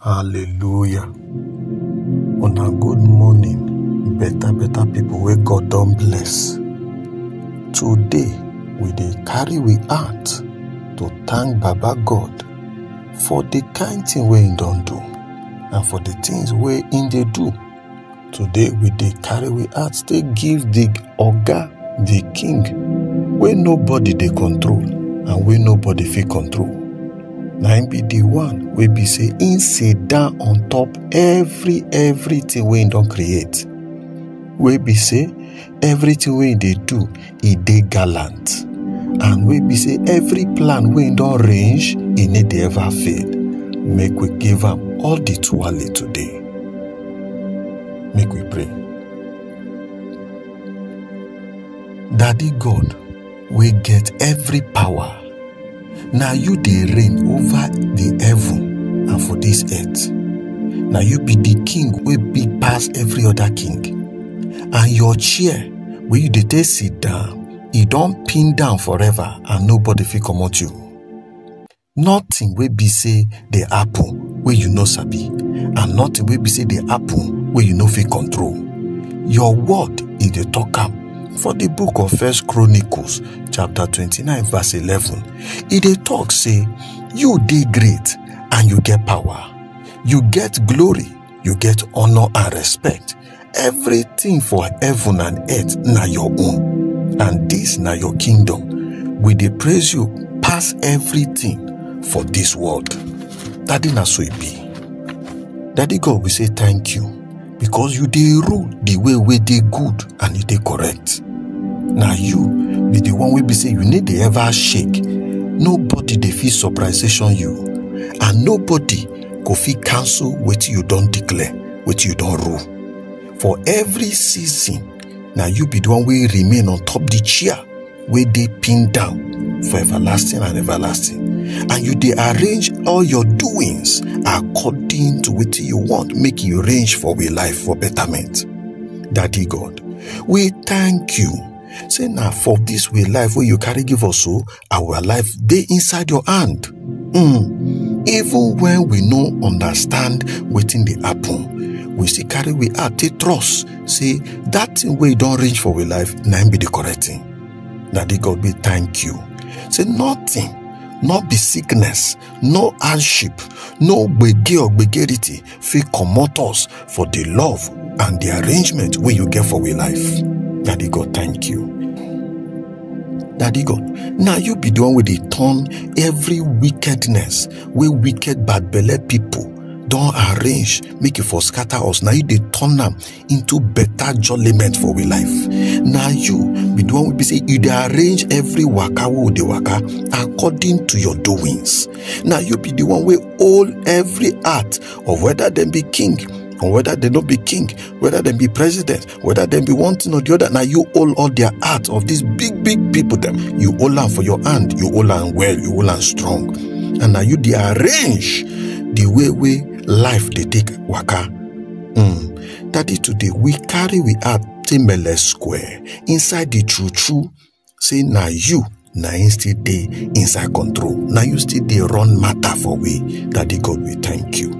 Hallelujah. Una good morning, better better people wey God don bless. Today we dey carry we heart to thank Baba God for the kind thing wey he don do and for the things wey he dey do today we dey carry we heart take give the oga the king wey nobody dey control and wey nobody fit control na him be the one wey be say him sit down on top every everything wey him don create wey be say everything wey im dey do e dey gallant and wey be say every plan wey im don range e no dey ever fail make we give am all the tuale today make we pray daddy god wey get every power na you dey reign over the heaven and for this earth na you be the king wey big pass every other king and your chair wey you dey take sit down e don pin down forever and nobody fit comot you nothing wey be say dey happen wey you no sabi and nothing wey be say dey happen wey you no fit control your word e dey talk am for the book of first chronicles chapter 29 verse 11 e dey talk say you dey great and you get power you get glory you get honor and respect Everything for heaven and earth na your own, and this na your kingdom. We dey praise you pass everything for this world. Daddy na so e be. Daddy God, we say thank you because you dey rule the way wey dey good and e dey correct. Na you be the one wey be say you no dey ever shake. Nobody dey fit surprisation you and nobody go fit cancel wetin you don declare. wetin you don rule for every season na you be the one wey remain on top the chair wey dey pinned down for everlasting and everlasting and you dey arrange all your doings according to wetin you want make you arrange for we life for betterment daddy god we thank you say na for this way life wey you carry give us so Our life dey inside your hand. Mm. Even when we no understand wetin dey happen, we still carry we heart take trust say that thing wey don reach for we life na im be the correct thing. Daddy God, we thank you. Say nothing, no be sickness, no hardship, no gbege or gbegerity fit comot us for the love and the arrangement wey you get for we life. Daddy God, thank you. Daddy God, na you be the one wey dey turn every wickedness wey wicked bad belle people don arrange make e for scatter us. Na you dey turn am into better jollyment for we life na you be the one wey be say you dey arrange every waka wey we dey waka according to your doings na you be the one wey hold every heart of whether dem be king or whether dem no be king whether dem be president whether dem be one thing or the other na you hold all their heart of these big big people dem you hold am for your hand you hold am well you hold am strong and na you dey arrange the way wey life dey take waka Hmm, daddy today we carry we heart take mele square inside the true true say na you na him still dey inside control na you still dey run matter for we daddy god we thank you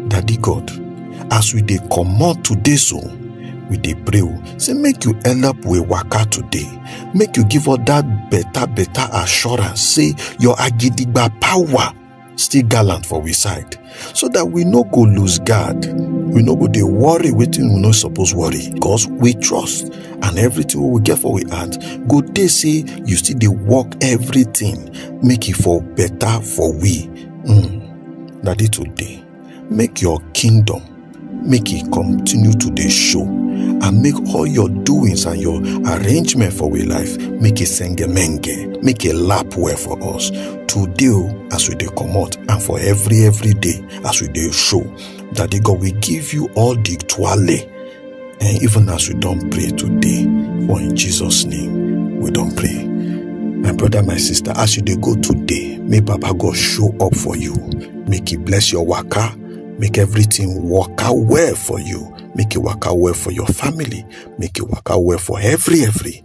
daddy god as we dey comot today so we dey pray o say make you help we waka today make you give us that better better assurance say your agidigba power still gallant for we side so that we no go lose guard we no go dey worry wetin we no suppose worry cause we trust and everything wey we get for we heart go dey say you still dey work everything make e for better for we mm, na dey today make your kingdom make e continue to dey show and make all your doings and your arrangement for we life make e sengemenge make e lap well for us today o as we dey comot and for every every day as we dey show daddy god we give you all the twale And even as we don't pray today, for in Jesus' name, we don't pray. My brother, my sister, as you dey go today, may Baba God show up for you. Make He bless your waka. Make everything work out well for you. Make it work out well for your family. Make it work out well for every, every.